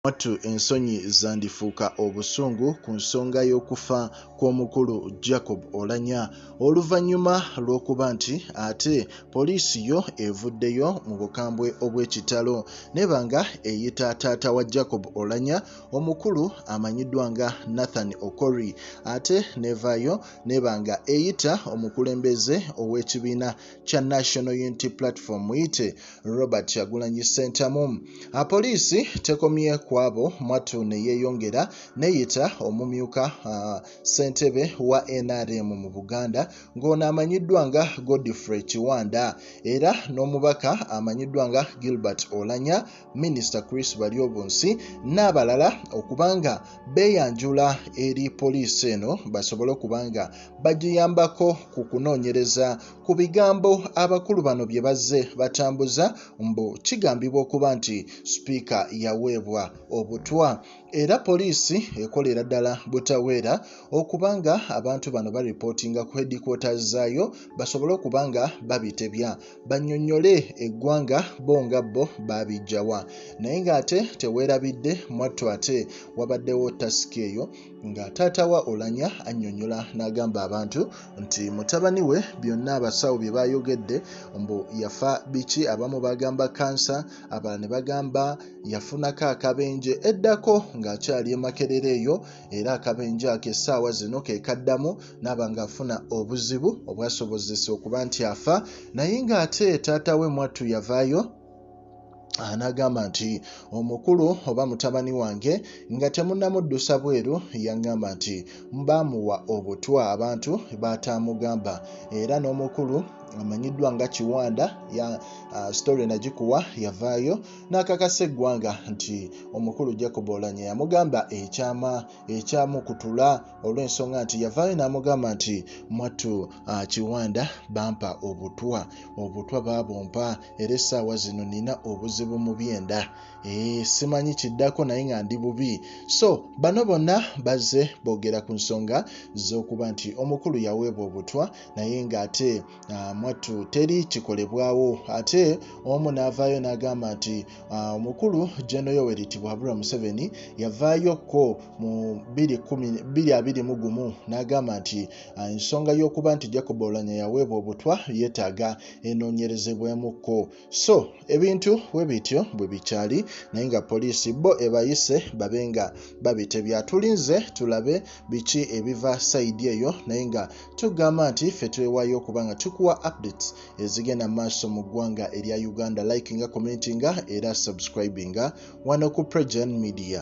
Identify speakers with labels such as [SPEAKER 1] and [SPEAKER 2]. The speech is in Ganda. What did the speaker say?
[SPEAKER 1] Mwattu ensonyi zandifuuka obusungu ku nsonga y'okufa kw'omukulu Jacob Olanya oluvannyuma lw'okuba nti ate poliisi yo evuddeyo mu bukambwe obw'ekitalo neba nga eyita taata wa Jacob Olanya omukulu amanyiddwa nga Nathan Okori ate nevaayo neba nga eyita omukulembeze ow'ekibiina kya National Unity Platform muyite Robert Kyagulanyi Ssentamu. Apoliisi tekomye kwabo mwattu ne yeeyongera neyita omumyuka ssentebe wa NRM mu Buganda ng'ono amanyiddwa nga Godfrey Kiwanda era n'omubaka amanyiddwa nga Gilbert Olanya minisita chris baryobunsi n'abalala okuba nga beeyanjula eri poliisi eno basobole okuba nga bagiyambako ku kunoonyereza ku bigambo abakulu bano bye bazze batambuza mbu kigambibwa okuba nti sipiika yaweebwa obutwa era poliisi ekolera ddala butaweera okuba nga abantu bano baripootinga ku headquarters zaayo basobole okuba nga babitebya bannyonnyole eggwanga bo nga bo baabijjawa naye ng'ate teweerabidde mwattu ate wabaddewo tasika eyo nga taata wa olanya annyonnyola n'agamba abantu nti mutabani we byonna abasawo bye baayogedde mbu yafa biki abamu bagamba kansa abalala ne bagamba yafunako akabenje eddako ng'akyali emakerera eyo era akabenje ako essaawa zino ke kaddamu naaba ng'afuna obuzibu obwasobozesa okuba nti afa naye ng'ate taata we mwattu yavaayo anagamba nti omukulu oba mutabani wange nga temunamuddusa bweru yagamba nti baamuwa obutwa abantu bataamugamba era n'omukulu amanyiddwa nga kiwanda ya uh, story nagikuwa yavaayo n'akakasa eggwanga nti omukulu jacob olanya yamugamba ekyama ekyamukutula olw'ensonga nti yavaayo n'amugamba nti mwattu ah, kiwanda bampa obutwa obutwa baabumpa era essaawa zino nina obuzibu mu byenda eh, simanyi kiddako naye nga ndi bubi so bano bonna bazze boogera ku nsonga z'okuba nti omukulu yaweebwa obutwa naye ng'ate Ah, mwattu teri kikolebwawo ate omu n'avaayo n'agamba nti ah, omukulu jeno yoweri tibuhabura museveni yavaayokko mu 221 n'agamba nti ah, ensonga y'okuba nti jacob olanya yaweebwa obutwa yeetaaga enoonyerezebwemukko so ebintu we bityo bwe bikyali naye nga poliisi bo ebayise babe nga babitebya tulinze tulabe biki ebiva sayidi eyo naye nga tugamba nti ffe twewayo okuba nga tukuwa updates ezigenda maaso mu ggwanga erya uganda like nga commenti nga era subscribinga wano ku pregen media